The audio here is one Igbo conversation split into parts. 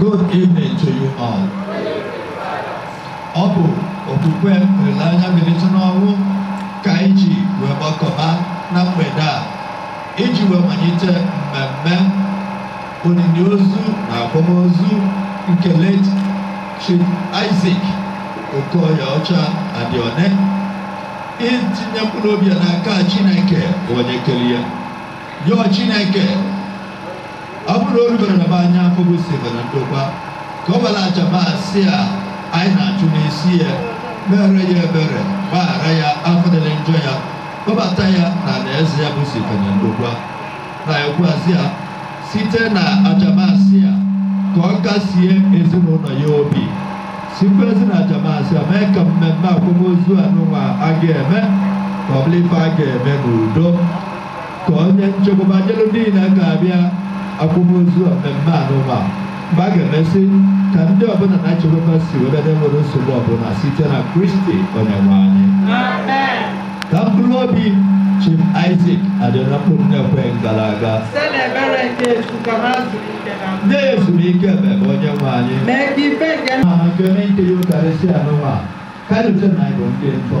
Good evening to you all. Ọ bụ okwukwe olileanya mbilite n'ọnwụ ka anyị ji wee gbakọba na mgbede a iji wee malite mmemme olili ozu na akwamozu nke late Chief Isaac Okoyeọcha Adione itinye mkpụrụ obi ya n'aka Chineke onye kere ya yọọ Chineke ọ bụrụ na o rubero na be anyị bụ obosi ife na ndokwa ka ọ bala aja Mass a anyị na-achụ n'isi ya mere ya ebere gbaghara ya afụfụ dịịrị njọ ya kpọbata ya na alaeze ya bụ obosi ife na ndokwa na-ayọkwazi ya site na aja Mass a ka ọ kasie ezinụlọ ya obi sikwazi na aja Mass a mee ka mmemme akwamozu anụnwa a ga-eme ka ọ bụrụ ife a ga-eme n'udo ka o nye nchekwaba nyere ndị niile ga-abịa akwamozu mmemme anụnwa mgbe a ga-emesị ka ndị ọbụla nachikwa ebe fa si wee bịa n'enwerọ nsogbu ọbụla site na kristi onyenwe anyị ka mkpụrụ obi chief isaac adione na mkpụrụ obi ndị kwere gara aga nye ezumike ebeebe onye nwe anyị ma nke n'ike Yukarịsị anụnwa karịsịa na anyị bụ ndị ntọ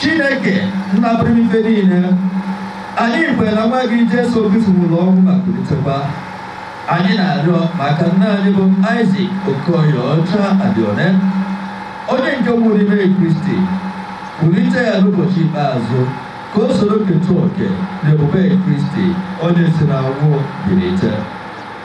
Chineke nna pụrụ ife niile anyị kwere na nwa gị Jesu Kristi nwụrụ ọnwụ ma kulitekwa anyị na-arịọ maka nna anyị bụ Isaac Okoyeọcha Adione onye nke nwụrụ n'ime Kristi kulite ya n'ụbọchị ikpeazụ ka o soro keta oke na ebube Kristi onye si n'ọnwụ bilite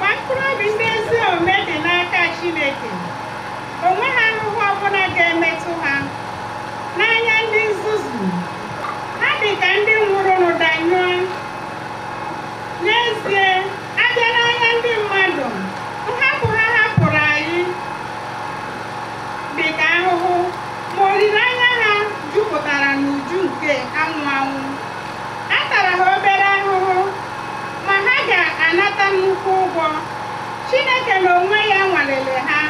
Ma mkpụrụ obi ndị ezi omume dị n'aka Chineke, o nweghị ahụhụ ọbụla ga-emetụ ha. N'anya ndị nzuzu, ha dị ka ndị nwụrụnụ danyụọ. N'ezie, a bịa n'anya ndị mmadụ, nhapụ ha hapụrụ anyị dị ka ahụhụ, ma olileanya ha jupụtara n'uju nke anwụ anwụ. A tara ha obere ahụhụ, ma ha ga-anata nnukwu ụgwọ. Chineke n'onwe ya nwalere ha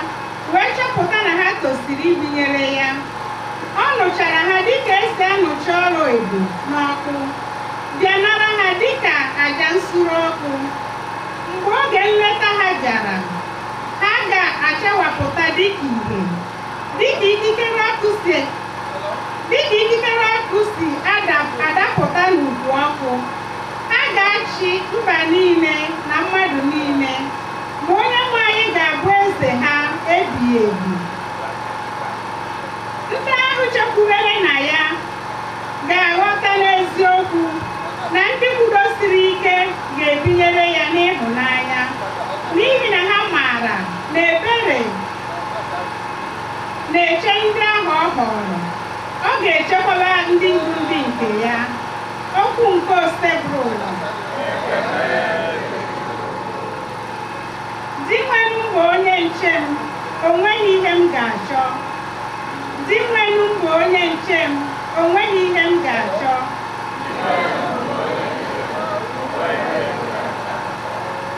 wee chọpụta na ha tosiri ibinyere ya. Ọ nụchara ha dịka e si anụcha ọla edo n'ọkụ, bịa nara ha dịka aja nsure ọkụ. Mgbe oge nleta ha bịara, ha ga-achawapụta dịka ihe. Dịka ikikere ọkụ si dịka ikikere ọkụ si ada- adapụta n'ukwu ọkụ, ha ga-achị mba niile na mmadụ niile, ma Onyenwe anyị ga-abụ eze ha ebighị ebi. Ndị ahụ chekwubere na ya ga-aghọta n'eziokwu na ndị kwudosiri ike ga-ebinyere ya n'ịhụnanya, n'ihi na ha maara na ebere na-eche ndị ahụ ọ họọrọ ọ ga-echekwaba ndị bụ ndị nke ya okwu nke Osebụrụwa Dinwenụ m bụ onye nche m o nweghị ihe m ga-achọ Dinwenụ m bụ onye nche m o nweghị ihe m ga-achọ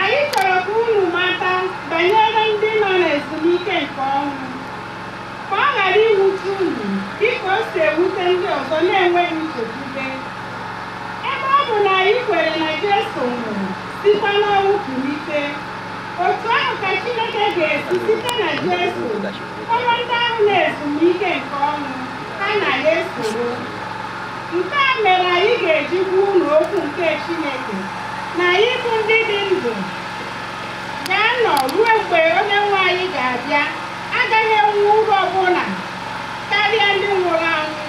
Anyị chọrọ ka unu mata banyere ndị nọ n'ezumike nke ọnwụ, ka ọ ghara iwute unu dị ka o si ewute ndị ọzọ na-enweghị nchekwube. Ebe ọ bụ na anyị kwere na Jesu nwụrụ, sikwa n'ọnwụ kulite, otu ahụ ka Chineke ga-esi site na Jesu Kpọrọ ndị ahụ n'ezumike nke ọnwụ ha na ya esoro. Nke a mere anyị ga-eji gwa unu okwu nke Chineke na anyị bụ ndị dị ndụ ga-anọ ruo mgbe onye nwe anyị ga-abịa agaghị enwe uru ọbụla karịa ndị nwụrụ anwụ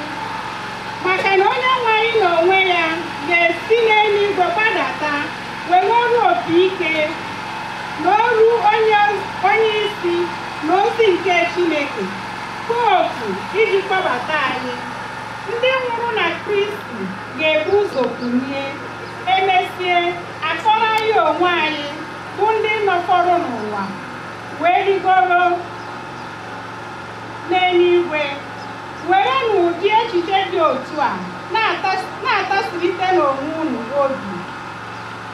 maka na onye nwe anyị na onwe ya ga-esi n'eluigwe gbadata were olu opi ike na olu onye onye isi Mmụọ ozi nke Chineke ka otu iji kpọbata anyị, ndị nwụrụ na Kristi ga-ebu ụzọ kunie, e mesịa a kpọrọ anyị onwe anyị bụ ndị nọfọrọ n'ụwa wee rigoro n'eluigwe. Werenụ ụdị echiche dị otu a na-ata- na-atasirịtanụ onwe unu obi.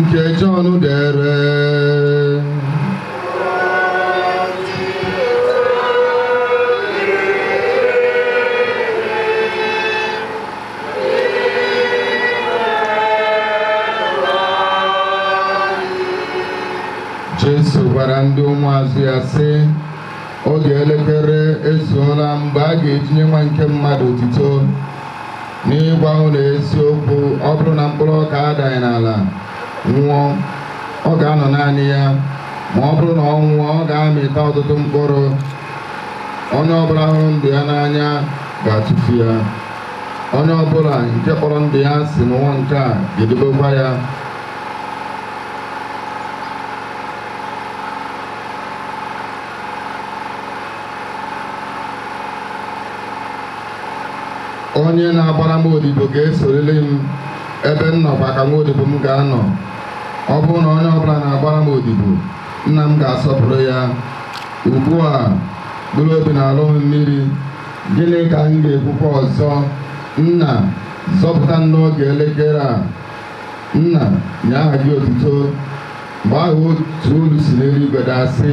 nke Jọn dere Jesu gwara ndị ụmụazụ ya sị oge elekere ezuola mgbe a ga-eji nye nwa nke mmadụ otito N'ịgwa unu eziokwu, ọ bụrụ na mkpụrụ ọka adaghị n'ala nwụọ, ọ ga-anọ naanị ya, ma ọ bụrụ na ọ nwụọ, ọ ga-amịta ọtụtụ mkpụrụ. Onye ọbụla hụrụ ndụ ya n'anya ga-atụfu ya. Onye ọbụla nke kpọrọ ndụ ya asị n'ụwa nke a ga-edobekwa ya. onye na-agbara m odibo ga-esoriri m ebe m nọkwa ka nwa odibo m ga-anọ ọ bụrụ na onye ọbụla na-agbara m odibo nna m ga-asọpụrụ ya ugbu a mkpụrụ obi na-alọ m mmiri gịnị ka m ga-ekwukwa ọzọ nna zọpụta m n'oge elekere a nna nye aha gị otuto mgbe ahụ otu olu si n'eluigwe daa sị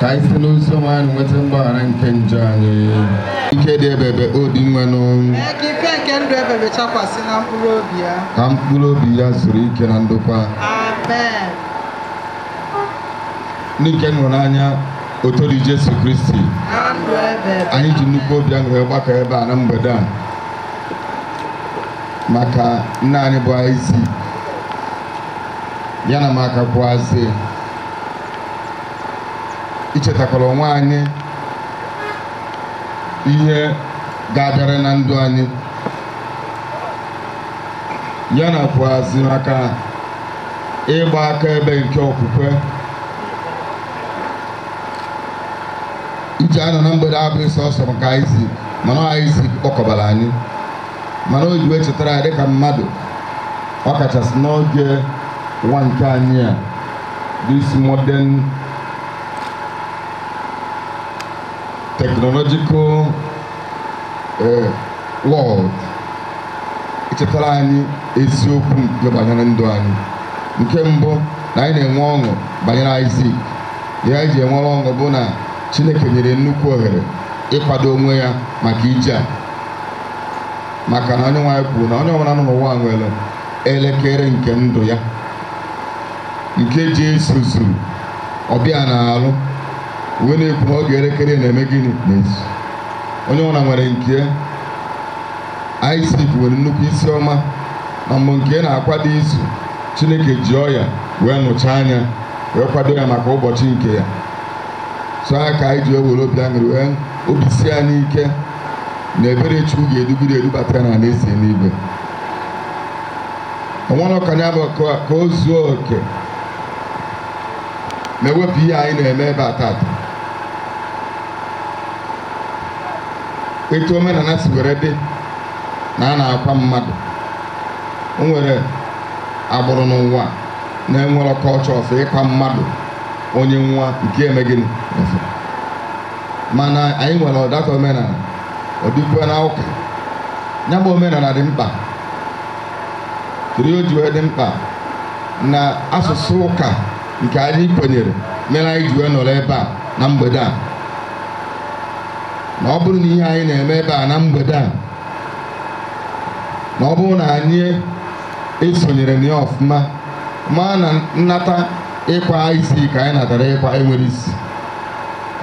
ka anyị site n'ozi ọma anyị nweta mgbaghara nke njọ anyị ike dị ebebe O Dinwenụ Mee ka ihe nke ndụ ebebe chakwasị na mkpụrụ obi ya. ka mkpụrụ obi ya zuru ike na ndokwa Amen. ndị nke m hụrụ n'anya otito dịrị Jesu Kristi Na ndụ ebebe. anyị ji nnukwu obi aṅụrị gbakọ ebe a na mgbede a maka nna anyị bụ Isaac ya na maka kwuazị ichetakwara onwe anyị ihe ga-abịara na ndụ anyị ya na kwuazị maka ịgba akaebe nke okwukwe iji anọ na mgbede a abụghị sọsọ maka Isaac mana Isaac kpọkọbara anyị mana o ji wee chetara anyị dịka mmadụ ọ kachasị n'oge ụwa nke anyị a this modern technological eh, world ichetara anyị eziokwu nke banyere ndụ anyị nke mbụ na anyị na-enwe ọṅụ banyere Isaac ihe anyị ji enwere ọṅụ bụ na Chineke nyere nnukwu ohere ịkwado onwe ya maka ije a maka na onye nwe anyị kwuru na onye ọbụla nọ n'ụwa nwere elekere nke ndụ ya nke ji ezuzu ọ bịa n'arụ wee na-ekwu na oge elekere ya na-eme gịnị na-ezu onye ọbụla nwere nke ya Isaac nwere nnukwu isi ọma na mgbe nke ya na-akwado izu Chineke ji ọya wee nụchaa ya wee kwado ya maka ụbọchị nke ya so ya ka anyị ji ewere obi aṅụrị wee obi sie anyị ike na ebere chukwu ga-edugide edubata ya n'alaeze eluigwe o nwerọ ka ya bụ ka ka o zuo oke ma e wepụ ihe anyị na-eme ebe a taata etu omenala si were dị na a na-akwa mmadụ o nwerọ agbụrụ n'ụwa na-enwerọ ka ọ chọsi ịkwa mmadụ onye nwa nke eme gịnị mana anyị nwere ọ dịka omenala ọ dịkwa na ụka ya bụ omenala dị mkpa gịnị o ji wee dị mkpa na asụsụ ụka nke anyị kwenyere mere anyị ji wee nọrọ ebe a na mgbede a na ọ bụrụ na ihe anyị na-eme ebe a na mgbede a na ọ bụrụ na anyị esonyere na ya ọfụma ma na nnata ịkwa Isaac anyị natara ịkwa enwere isi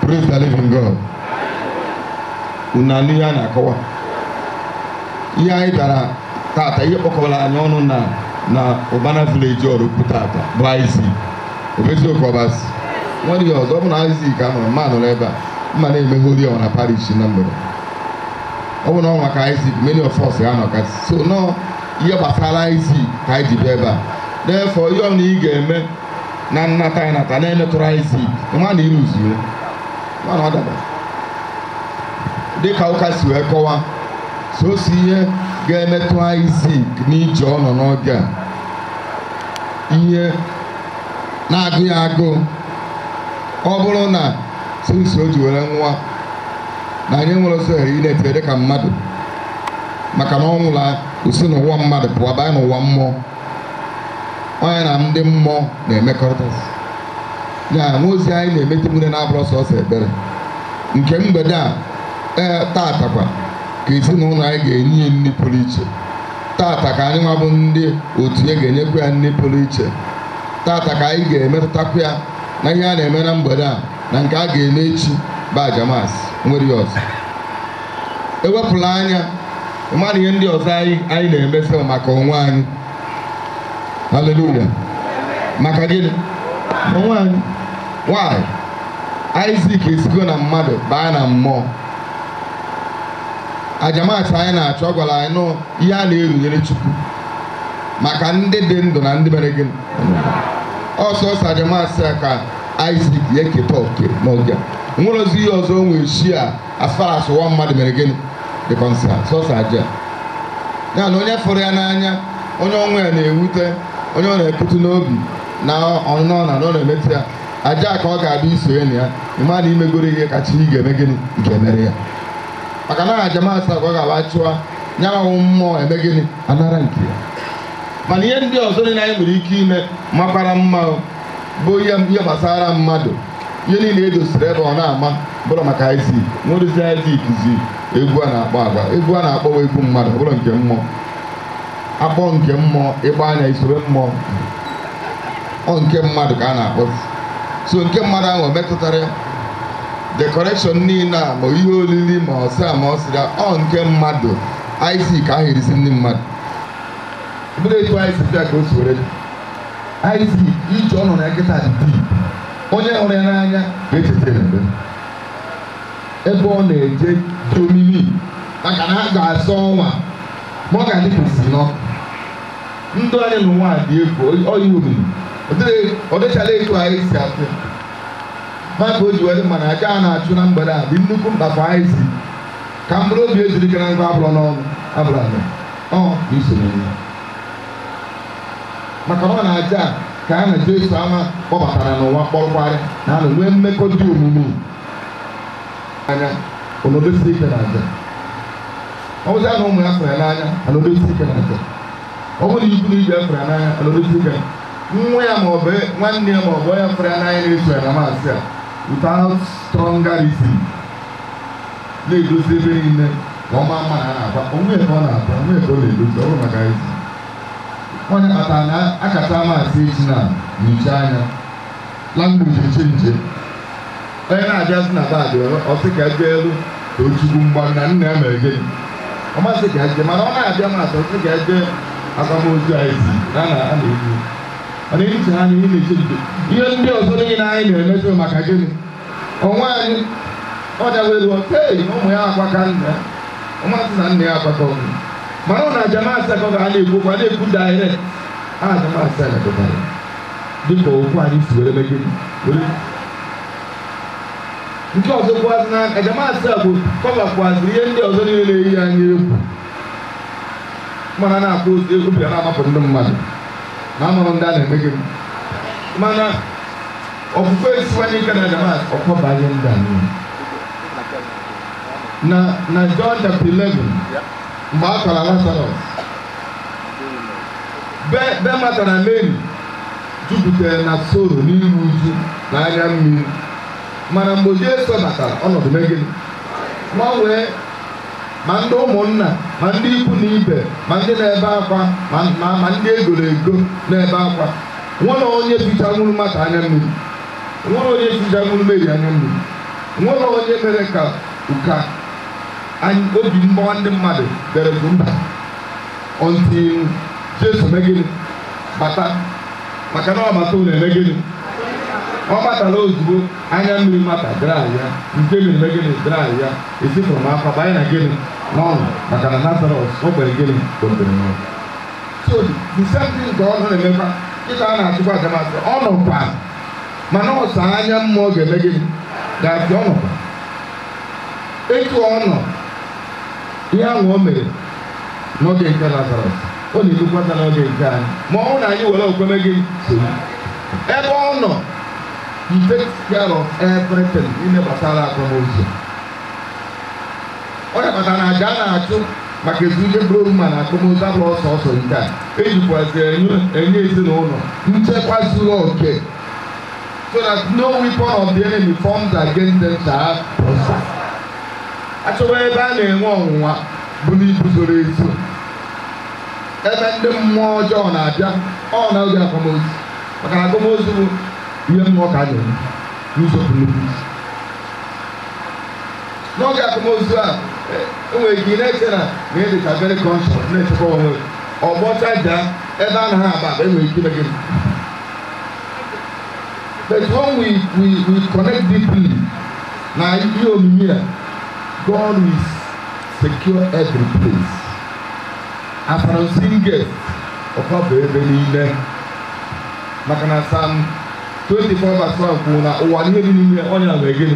Praise the living God. Unu anụ ihe a na-akọwa. Ihe anyị bịara tata ihe kpọkọbara anyị ọnụ na na Ụbana village ọrụ tata bụ Isaac. Ọ bụ eziokwu ọ bụ asị. O nwere ihe ọzọ ọ bụ na Isaac ka nọrọ mma nọrọ ebe a mma na-emeghe ori ọha na parish na mgbede. Ọ bụ na ọ maka Isaac many of us ha nọka so nọ ihe gbasara Isaac ka anyị ji bịa ebe a. Therefore ihe anyị ga-eme na nnata ya nata na-emetụrụ Isaac nwa na ịrụzuo nwa na ọ daba dịka ụka si wee kọwa sọsọ ihe ga-emetụ Isaac n'ije ọ nọ n'oge a ihe na-agụ ya agụụ ọ bụrụ na since o ji were nwa na anyị nwere ọzọ ohere ị na-etere dịka mmadụ maka na ọ nwụọla o si n'ụwa mmadụ pụọ banye n'ụwa mmụọ onye na ndị mmụọ na-emekọrịta ya nwa ozi anyị na-emeti nwere na-abụrụ sọsọ ekpere nke mgbede a ee tatakwa ka ezinụlọ anyị ga-enye ya nri pụrụ iche tata ka anyị nwa bụ ndị otu ya ga-enyekwa ya nri pụrụ iche tata ka anyị ga-emetụtakwa ya na ihe a na-eme na mgbede a na nke a ga-eme echi bụ aja Mass o nwere ihe ọzọ ewepụla anya mmadụ ihe ndị ọzọ anyị anyị na-emesi maka onwe anyị haleluya maka gịnị onwe anyị why Isaac esigo na mmadụ baa na mmụọ aja Mass anyị na-achụ a gwara anyị na ọ ihe a na-erunyere chukwu maka ndị dị ndụ na ndị mere gịnị ọ sọsọ aja Mass ka Isaac ya eketa oke n'oge a. o nwerezi ihe ọzọ o nwere chi a as far as ụwa mmadụ mere gịnị dị concern sọsọ aja ya na onye fụrụ ya n'anya onye ọnwụ ya na-ewute onye ọ na-emetụ n'obi na ọnụnọ na ọ na-emetụ ya aja ka ọ ga-abịa isonye na ya ị ma na i megoro ihe kacha ị ga-eme gịnị nke mere ya maka na aja Mass a ka ọ ga-aba chụọ ya ma mmụọ eme gịnị anara nke ya mana ihe ndị ọzọ niile anyị nwere ike ime makwara mma o bụ ihe ihe gbasara mmadụ ihe niile edosiri ebe ọ na-ama abụrọ maka Izik nwedozi Izik zi egwu a na-akpọ agba egwu a na-akpọwa egwu mmadụ ọ bụrụ nke mmụọ akpọ nke mmụọ ịgba anya isoro mmụọ ọ nke mmadụ ka a na-akpọ so nke mmadụ ahụ o metụtara ya decoration niile a ma ihe olili ma ọsị a ma ọ sịga ọ nke mmadụ Izik ahụ erisi ndị mmadụ bụrụ etu anyị si bịa ka o si were dị. iv ije ọ nọ na ya kịta dị bii onye hụrụ ya n'anya ga-echeta ya mgbe ebe ọ na-eje dị omimi maka na a ga-azọ onwe ya ma ọ ga-adị ka o si n'ọkụ ndụ anyị n'ụwa a dị egwu ọ dị omimi Ọ dịghị- ọ dịchala etu anyị si atụ ya. maka o ji were mee na aja a na-achụ na mgbede a dị nnukwu mkpa anyị sị ka mkpụrụ obi ya zuru ike na ndokwa abụrọ n'ọnụ abụrọ ala ọ bụ isonye ya maka na ọ n'aja a ka ya na Jesu ama kpọbatara n'ụwa kpọrọkwa ya naa na-enwe mmekọ dị omimi anya anọdesi ike na aja ọ bụzi na ụmụ ya fụrụ ya n'anya anọdesi ike na aja ọ bụrụ na ikwu na ibe ya fụrụ ya n'anya anọdesi ike nwa ya ma ọ bụ nwanne ya ma ọ bụ onye fụrụ ya n'anya na-eso ya na Mass a without stronger reason na-edozi ebe niile ka ọ maa mma na a na-agba onwe ebe ọ na-agba onwe ebe ọ na-edozi ọ bụrọ maka Izik ọ ihe kpatara na akacha Mass eji na nyocha anya language eche nche onye na-abịazi na bad ọ sị ka ebe elu ka ochukwu mgba na nna ya mere gịnị ọ masị ka eje mana ọ na-abịa Mass ọ sị ka eje akwamozu anyị si na na a na-ekwu mana ehicha ha na ihe na-eche nche ihe ndị ọzọ niile anyị na-emeso maka gịnị onwe anyị ọ dawa elu ei na ụmụ ya akwaka nna ya ụmụazị na nna ya agbaka ọnụ mana ọ na aja Mass a ka a na-ekwu kwa na-ekwu direct a aja Mass a pụtara dịka okwu anyị si were megide were nke ọzọ kwazị na aja Mass a cover kwazị ihe ndị ọzọ niile na-eyi anyị egwu mana na-akpọ ozi egwu obi na-amapụ ndị mmadụ na amụrụ ndị a na-emegide mana Okwukwe esiwanye ike na aja Mass ọ cover ihe ndị a niile. Na na John chapter 11 mgbe a kwara Lazarus be be Mata na Mary jupụtara na sorrow n'iru uju na anya mmiri mana mgbe Jesu batara ọnọdụ mee gịnị gbanwee ma ndị ụmụnna ma ndị ikwu na ibe ma ndị na-ebe akwa ma ma ma ndị egoro ego na-ebe akwa nwere onye fichanwuru mata anya mmiri nwere onye fichanwuru meri anya mmiri nwere onye mere ka ụka anyị obi mgbawa ndị mmadụ bere bụ mba until jesu mee gịnị bata maka na ọ bata ụlọ emee gịnị ọ batara ozugbo anya mmiri mata adraya nke meri emee gịnị adraya esifụrụ m afa banye na gịnị n'ọṅụ maka na lazarus e mere gịnị kpọtere n'ọnwụ so the same thing ka ọ nọ na-emekwa taa na-achịkwa adamasị ọ nọkwa mana ọ sọ anya mmụọ ga-eme gịnị ga-afụ ya ọ nọkwa etu ọ nọ ihe ahụ o mere n'oge nke lazarus ọ na-emekwa taa n'oge nke anyị ma ọ bụ na anyị were okwukwe mee gịnị soro ebe ọ nọ he takes care of everything ihe gbasara akwamozu ọ ya kpatara na aja a na-achụ maka ezumike mkpụrụ obi ma na akwamozu abụrọ sọsọ nke a ejikwazi enye ezinụlọ nchekwa zuru oke so that no weapon of the enemy formed against them shall prosper. achọwa ebe a na-enwe ọnwụnwa buru ibu zuru ezu ebe ndị mmụọ ọjọọ na-abịa ọ na oge akwamozu maka na akwamozu bụ ihe mmụọ ka a na-enwe n'ụzọ pụrụ n'oge akwamozu a enwere ike ị na-eche na na ị dịcha very conscious na-echekwa onwe gị ọgbọcha jaa ebe a naghị agba agba enwere ike ime gị but when we we we connect deeply na ihe omimi a God will secure every place afara nsiri gate ọkwa bụ ebe niile maka na sam 24 verse 1 kwuru na ụwa na ihe dị n'ime onyenweanyị mere gịnị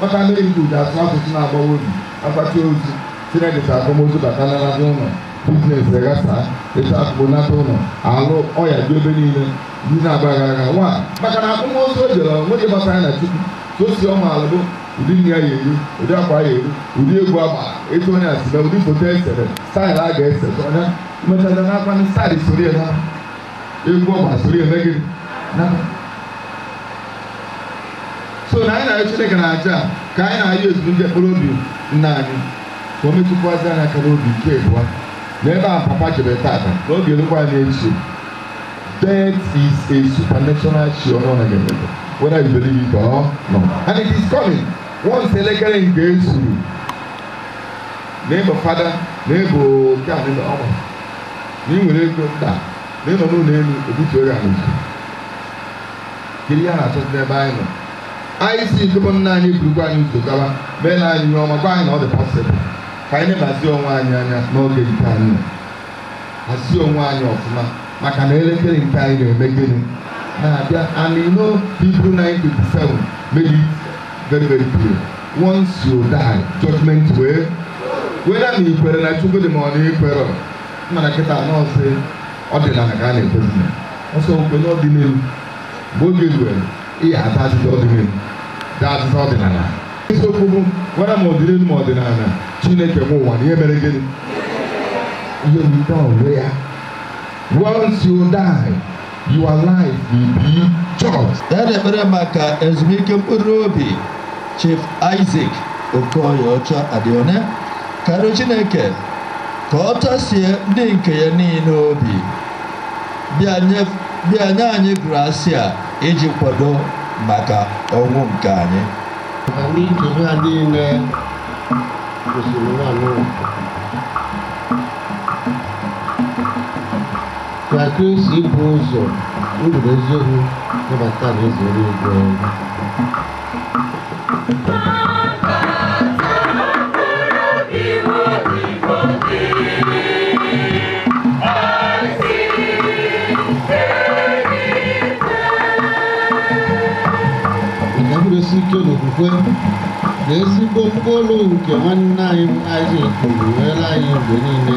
Maka mmiri nke ude asụ asụsụ na-agbawa obi agbata ozu sinedịta akwamozu batanarazi ụlọ business aghasa etu akụkpọnata ụlọ alụ ọya dị ebe niile ndị na-agba gara aga nwa maka na akwamozu o jere nwoke gbasara ya na chukwu ka o si ọma ala bụ ụdị nri ya ga-eri ụdị akwa ya eyi ụdị egwu agba etu onye asịbe ụdị foto esere style a ga-ese ọnya mmechaja na akwa ndị style soro ya na egwu ọ masịrị ya emee gịnị naba. so na anyị na-arịọ chineke na aja a, ka anyị na-arịọ ezumike mkpụrụ obi nna anyị ka o metụkwazị anyị aka n'obi nke bụ na ebe a papa jebere tata na ọ ga-erukwa anyị echi death is a supernatural phenomenon ga-emebe whether you believe it or not and it is coming once elekere nke i zuru na ị bụ fada na ị bụ nke a na ị bụ ọma na ị nwere ego mba na ị nọ n'ụlọ elu ebutuo ya n'ụzọ kedu ihe a na-achọzi n'ebe anyị nọ anyị sị ikekwe nna anyị burukwa anyị ụzọ gawa meela anyị ihe ọma gwa anyị na ọ dị possible ka anyị nemazie onwe anyị anya n'oge nke anyị nọ. hazie onwe anyị ọfụma maka na elekere nke anyị na-eme gịnị na-abịa and you know Hebrew 9:27 made it very very clear once you die judgment wee whether na i kwere na chukwu dị ma ọ na i kwerọ mana kịta na ọ sọ ọdịnala ka a na-ekwezi na ọsọ okwe n'ọdịnihu mgbe oge ruere ihe ata azịza ọdịnihu da azịza ọdịnala isiokwu bụ gwara ma ọdịnihu ma ọdịnala chineke m ụwa na ihe mere gịnị ihe wita onwe ya once you die Your life will be judged. Ya na-ekpere maka ezumike mkpụrụ obi Chief Isaac Okoye Ọchadịone ka a rịọ Chineke ka ọ tasie ndị nke ya niile obi bịa nye anyị grasia iji kwado maka ọnwụ nke anyị ndị nchebe a niile gosiri nwa n'ụwa Ka Kristi bụ ụzọ ndụ na eziokwu kpọbata n'alaeze eluigwe. Maka nkwụrụsi ike n'okwukwe na ezigbo ụkpụrụ nke nwanne anyị bụ Isaac kpụrụ were anyị mgbe niile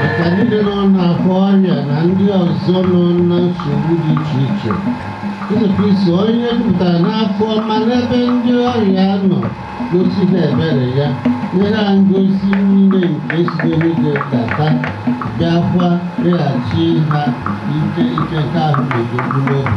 maka ndị nọ n'akwa ọrịa na ndị ọzọ nọ na nsogbu dị iche iche Jesu Kristi onye pụtara n'afọ ma n'ebe ndị ọrịa nọ gosi ha ebere ya nye ha ngọzi niile nke site n'igwe data bịakwa nyeghachi ha ike ike nke ahụ na nke mkpụrụ obi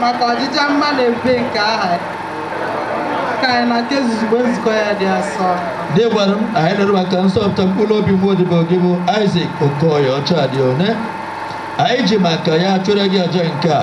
maka ọjịja mma na ebube nke aha ka anyị na nke zuzugbe nzukọ ya dị asọ Dinwenụ anyị nụrụ maka nzọpụta mkpụrụ obi nwa odibo gị bụ Isaac Okoye Ọchadịone anyị ji maka ya chụọrọ gị aja nke a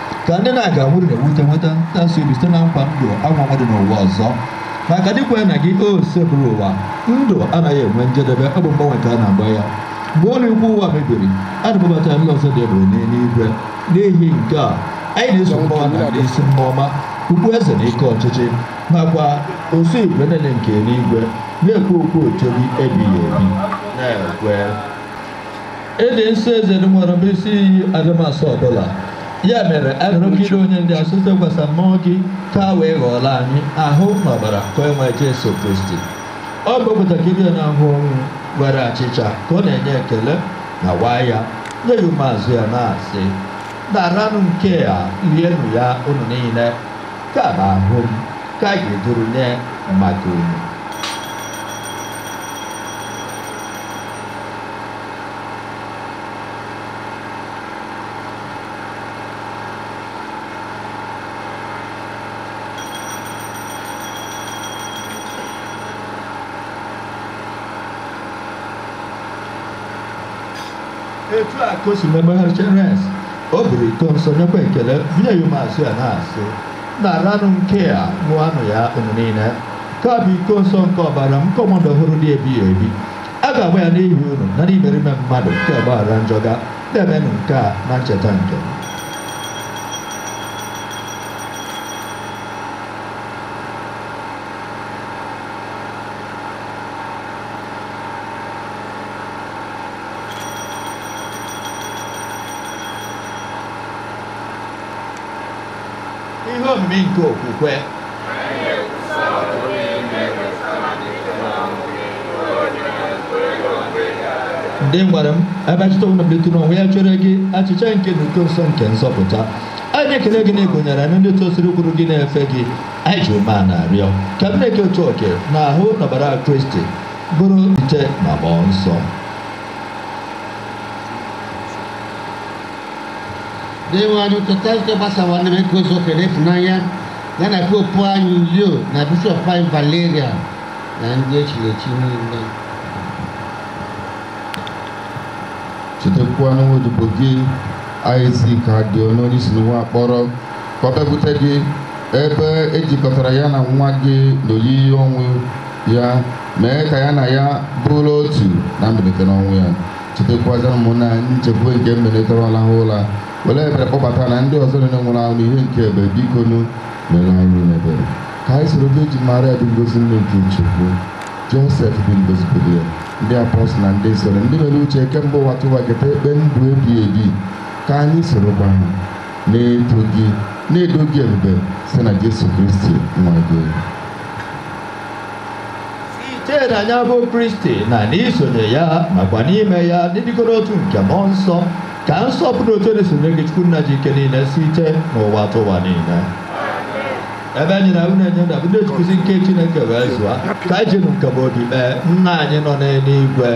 ka ndị na a ga-anwụrụ na-ewute nweta ntasị obi site na nkwa ndụ anwụ anwụ dị n'ụwa ọzọ maka ndị kwere na gị Osebụrụwa ndụ anaghị enwe njedebe ọ bụ mgbanwe ka a na-agbanwe ya mgbe ụlọ ikwu ụwa mebiri a na-ebubata n'ụlọ ọzọ dị ebebe n'eluigwe n'ihi nke a anyị na-eso mmụọ ọma na ndị isi mmụọ ọma ukpo eze na ike ọchịchị nakwa usuu igwe niile nke eluigwe na-ekwe ukwe otito gị ebighị ebi na-ekwe ị dị nsọ ezie Dinwenụ bụ isi iyi adịmasọ ọbụla ya mere anyị arịọ gị doo onyinye ndị a asọ site n'ịwụsa mmụọ gị ka ha wee ghọọrọ anyị ahụ na ọbara nke Onyenweanyị Jesu Kristi ọ bụ pụtakịrị ya n'ahụhụ ọnwụ were achịcha ka ọ na-enye ekele nyawaa ya nye ya ụmụazụ ya na-asị naranụ nke a rienụ ya unu niile nke a bụ ahụ m nke a ga-eduru nye maka unu etu a ka o si mee mgbe ha richara o buru iko nsọ nyekwa ekele bunye ya ụmụazụ ya na-asị naranụ nke a ṅụanụ ya unu niile nke a bụ iko nsọ nke ọbara m nke ọgbụgba ndụ ọhụrụ dị ebighị ebi a ga-agba ya n'ihi unu na n'ihi imerime mmadụ ka a gbaghara njọ ga na-emenụ nke a na ncheta nke m Ihe omimi nke okwukwe. Dinwenụ ebe anyị na-echeta ọnwụ na mbilite n'ọnwụ ya chere gị achịcha nke ndụ na iko nsọ nke nzọpụta anyị ekele gị na ị gụnyere anyị na ndị tosiri ikwụrụ n'ihu gị na-efe gị anyị ji umeala arịọ ka anyị na-eke otu oke na ahụ na ọbara kristi bụrụ otu site na mmụọ nsọ Dinwenụ cheta nzukọ gị gbasara n'ụwa niile mee ka o zuo oke n'ịfụnanya ya na popu anyị Leo na bishọp anyị Valerian na ndị echiri echi niile. Chetakwa nwa odibo gị Isaac Adịọnụ onye i si n'ụwa kpọrọ ka ọ bịakwute gị ebe e jikọtara ya na nwa gị n'oyiyi ọnwụ ya mee ka ya na ya bụrụ otu na mbilite n'ọnwụ ya chetakwazịa ụmụnna anyị nchekwube nke mbinite laha ụla were ebere kpọbata na ndị ọzọ niile nwụrụ anwụ n'ihe nke ebube biko nụ meere anyị niile ebere ka anyị soro vejin maria dị ngọzi nne nke chukwu josef dị ngọzi bụ di ya ndị apọstụl na ndị nsọ ndị mere uche kemgbe ụwa tụwa keta ekpe ndụ ebi ebi ka anyị sorokwa ha na-eto gị na-edo gị ebube site na jesu kristi nwa gị site na ya bụ kristi na n'isonye ya nakwa n'ime ya n'ịdịkọ n'otu nke mmụọ nsọ ka nsọpụrụ na otito niile si eru gị chukwu nna ji ike niile site n'ụwa tụwa niile ebe e nyere anyị iwu na-enye ndụ e ji nkuzi nke chineke wee zụọ anyị ka anyị jinụ nkama obi kpee nna anyị nọ n'eluigwe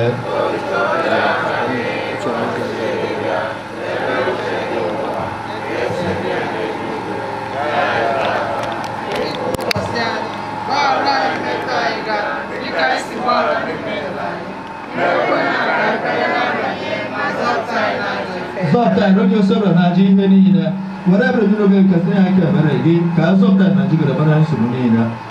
zọpụta anyị n'oge usoro na ajọ ihe niile were ebere mmiri oge nkesị ya nke ebere gị ka a zọpụta anyị na jigoro bara nsogbu niile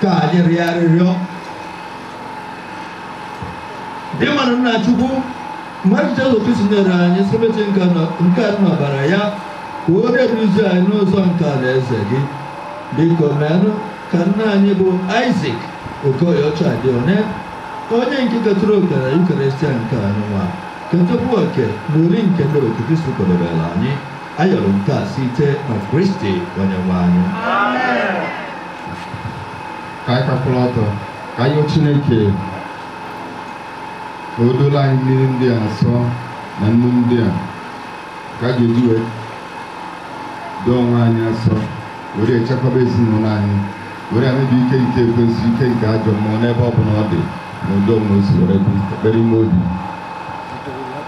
ka anyị rịọ arịrịọ dinwenụ nna chukwu nwa gị jesu kristi nyere anyị sakramentị nke anụ na ọbara ya ka ọ na-eduzi anyị n'ụzọ nke alaeze gị biko meenụ ka nna anyị bụ isak okoyeọcha dị one onye nke ketụrụ oke na yukarịstịa nke a n'ụwa ketụkwu oke n'oriri nke enuigwe kristi kwadebere anyị Ayọrọ nke a site na Kristi Onyenwe anyị. ka anyị kwụrụ ọtọ ka anyị yọọ chineke ka o doro anyị mmiri ndị a nsọ na nnu ndị a ka a ga-eji wee doo onwe anyị asọ were echekwaba ezinụlọ anyị were ya mebi ike nke ekwensu ike nke ajọ mmụọ n'ebe ọ bụla ọ dị na udo na osi were kpee ekpere ime obi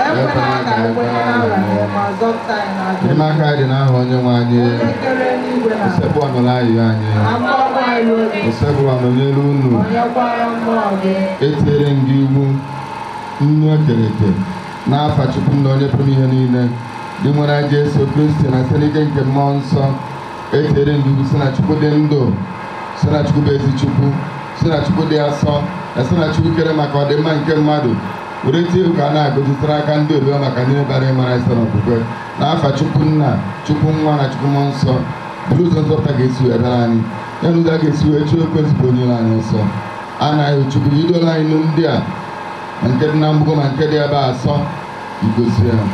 Ekwela ka anyị kwenye na nranye ma zọpụta anyị n'ajọ ihe. Enyemaka anyị dị n'aha onye nwe anyị. kere enigwe na ana. Osebụrụwa nụrụ ayịyọ anyị. ka mkpu akwa anyị ruo gị. Osebụrụwa nọnyere unu. nọnyekwara mmụọ gị Etinyere m gị iwu nnu e kere eke n'afa Chukwu Nna onye pụrụ ihe niile. Dinwenụ anyị Jesu Kristi na site n'ike nke mmụọ nsọ. Etinyere m gị iwu si na Chukwu dị ndụ. Si na Chukwu bụ ezi Chukwu. Si na Chukwu dị asọ. Na si na Chukwu kere maka ọdịmma nke mmadụ. were tie iwu ka a na-agọzi gị site n'aka ndị odibo ya maka ndị bịara ịmara isi na okwukwe na afa chukwu nna chukwu nwa na chukwu mmụọ nsọ bụrụ ụzọ nzọpụta ga-esi wee bịara anyị ya na ụzọ a ga-esi wee chụọ ekwensu bụ onye iro anyị ọsọ a na-ayọ gị chukwu i dolụ anyị nnu ndị a ma nke dị na mgbugo ma nke dị ebe asọ i gọzie ya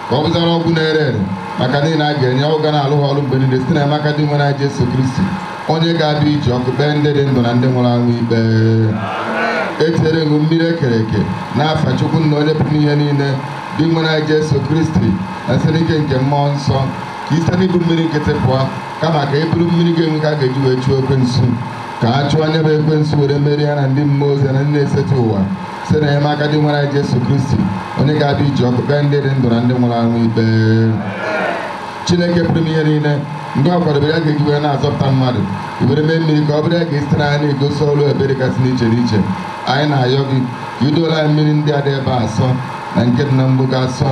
ka ọ bụzara ọgwụ na-ere ere maka ndị niile a ga-enye ọ ga na-alụ ha ọrụ mgbe niile site na enyemaka dinwenụ anyị Jesu Kristi onye ga-abịa iji ọkụ kpee ndị dị ndụ na ndị nwụrụ anwụ ikpe etinyere ṅụ mmiri ekere eke n'afa chukwu nna onye pụrụ ime ihe niile dinwenụ anyị jesu kristi na site n'ike nke mmụọ nsọ ka i site n'ịbụ mmiri nkịtị pụọ kama ka ị bụrụ mmiri ga-enwe ike a ga-eji wee chụọ ekwensu ka a chụọ ya bụ ekwensu were merie ya na ndị mmụọ ozi na ndị na-eseta ụwa site na enyemaka dinwenụ anyị jesu kristi onye ga-abịa iji ọkụ kpee ndị dị ndụ na ndị nwụrụ anwụ ikpe chineke pụrụ ime ihe niile ndị ọ kwadobere ya ga-eji wee na-azọpụta mmadụ were mee mmiri ka ọ bụrụ ihe a ga-esite na ya na-egosi ọrụ ebere gasị dị iche iche anyị na-ayọ gị ka i doro anyị mmiri ndị a dị ebe a asọ na nke dị na mgbugo asọ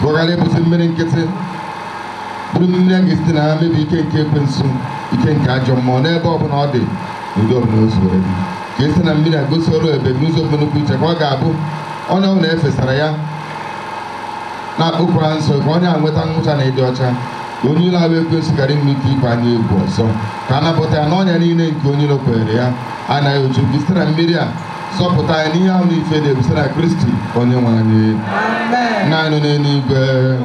ka ọ ghara ịbụzi mmiri nkịtị bụrụ mmiri a ga-esite na ya mebi ike nke ekwensu ike nke ajọ mmụọ n'ebe ọ bụla ọ dị n'ụdị ọbụla o zuwere gị ka i site na mmiri a gosi ọrụ ebere n'ụzọ pụ nnukwu iche ka ọ ga-abụ onye ọbụna e fesara ya na-akpọku aha nsọ ka onye a nweta nwucha na ịdị ọcha ka onye ilo a bụ ekwensu ghara inwe ike ịba anyị egwu ọzọ ka a napụta ya n'ọnya niile nke onye ilo kwenyere ya anyị na-ayọ gị site na mmiri a zọpụta anyị n'ihe ahụ n'ife dị egwu site na kristi onye nwe anyị nna anyị nọ n'eluigwe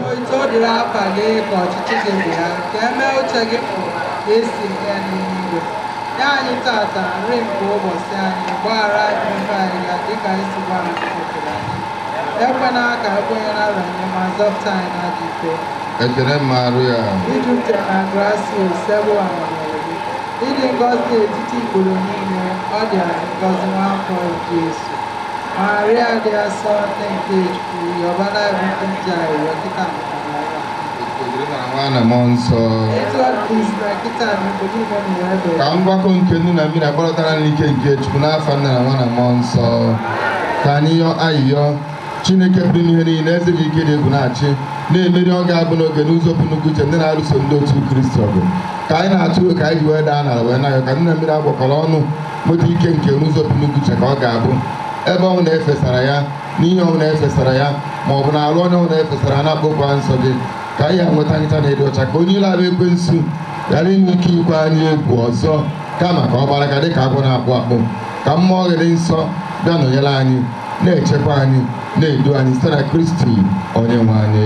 otito dịrị afa gị ka ọchịchị gị bịa ka e mee uche gị n'ụwa ka e si eme n'igwe Nye anyị tata nri nke ụbọchị anyị, gbaghara anyị mmehie anyị ga dịka anyị si gbaghara ndị mehiere anyị. Ekwena ka anyị kwenye na nranye, ma zọpụta anyị n'ajọ ihe. Ekene Maria. I jupụtara na grasia Osebụrụwa nọnyere gị. Ị dị ngọzi n'etiti ikporo niile, ọ dịazị ngọzi nwa afọ gị Jesu. Maria dị asọ nne nke Chukwu, yọbara anyị bụ ndị njọ ayịyọ kịta maka na mmụọ nsọ ka ngwakọ nke nnu na mmiri akpọrọtara n'ike nke chukwu n'afa nna na nwa na mmụọ nsọ ka anyị yọ ayịyọ chineke pụrụ ime ihe niile eze ji ike dị egwu na-achị na-emeri oge ọbụna oge n'ụzọ pụ nnukwu iche ndị na-alụso ndị otu kristi ọgụ ka anyị na-atụ ụjọ ka anyị ji wee daa n'ala wee na-ayọ ka nnu na mmiri a gwakọrọ ọnụ nweta ike nke n'ụzọ pụ nnukwu iche ka ọ ga-abụ ebe ọbụna e fesara ya n'ihe ọbụla e fesara ya ma ọ bụ n'arụ onye ọbụla e fesara na-akpọku aha nsọ gị ka onye a nweta nwucha na ịdị ọcha ka onye ilo a bụ ekwensu ghara inwe ike ikwe anyị egwu ọzọ kama ka ọ gbalaga dịka agwọ na-akpụ akpụ ka mmụọ gị dị nsọ bịa nọnyere anyị na-echekwa anyị na-edu anyị site na kristi onye nwe anyị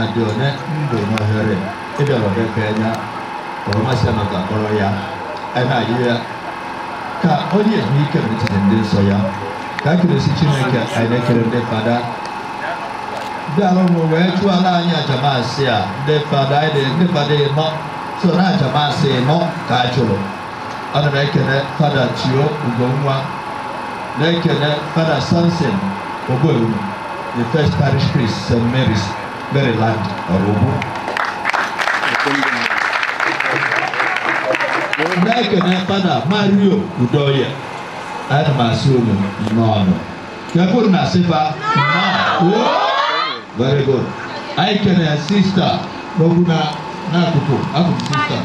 adị onye ndụ n'ohere ịbịara ọdebe anya ọrụmasị maka kpọrọ ya na-ayị ya ka onye ehu ike n'etiti ndị nsọ ya ka akịrịsị chineke anyị na-ekele ndị fada ndị alụmụ wee chụọra anyị aja mass a ndị fada anyị ndị fada ịnọ so n'aja mass ịnọ ka a chụrụ ana m ekene fada theo ugonwa na-ekene fada samson ogbewu the first parish priest st mary's maryland ọrụgbu na-ekene fada mario udoye ana m asị unu nnọọ ka kwuru na sịba very good anyị kene sista n'okwu na n'akụkụ akụkụ sista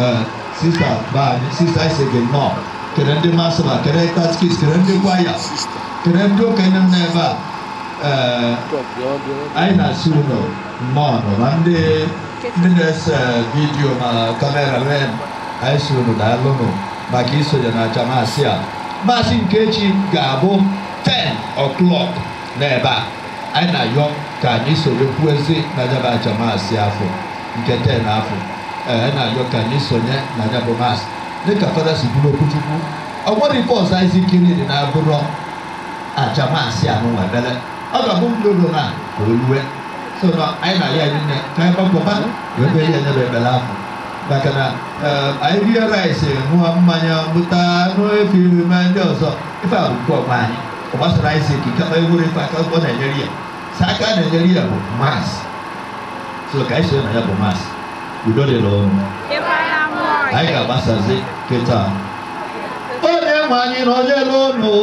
eh, sista baa sista anyị sị gị nnọọ kene ndị mass server kene katkis kene ndị kwaya kene ndị okenye m n'ebe a eh, anyị na-asị unu nnọọ nụ ma ndị ndị na-ese vidiyo na kamera ren anyị si unu daalụnụ maka isonye n'aja maasị a Maasị nke echi ga-abụ 10 o'clock n'ebe a anyị na-ayọ ka anyị sonyekwuazi na nya bụ aja maasị afọ nke 10 afọ ee anyị na-ayọ ka anyị sonye na nyabụ maasị dịka fada si bụrụ okwuchukwu o nwerọ ife ọzọ anyị zikiri dị na-abụrọ aja maasị na ekpele ọ ga-abụ ndị ụlọ na ka o lue so na anyị na-ayọ anyị nine ka anyị gbakọba wee bee ya nyebe ebele afọ maka na anyị rie rice ṅụọ mmanya bụta anụ efi ma ndị ọzọ ife a bụ nke ọgba anyị ọ gbasara anyị si ekike ma enwerọ ife aka ọ na-enyere ya sọ aka na-enyere ya bụ mas so ka anyị so na ya bụ mas udo dịrị unu anyị ga-agbasazi kịta onye nwe anyị nọnyere unu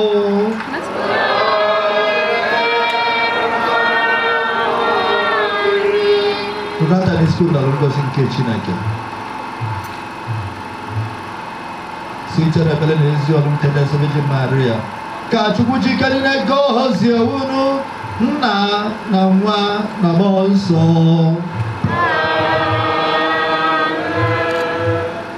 budatanụ isi yọọ ngọzi nke chineke site n'ekpere na ezi ọrụ nke ezi Virgin Maria ka chukwu ji ike niile gọzie unu nna na nwa na mmụọ nsọ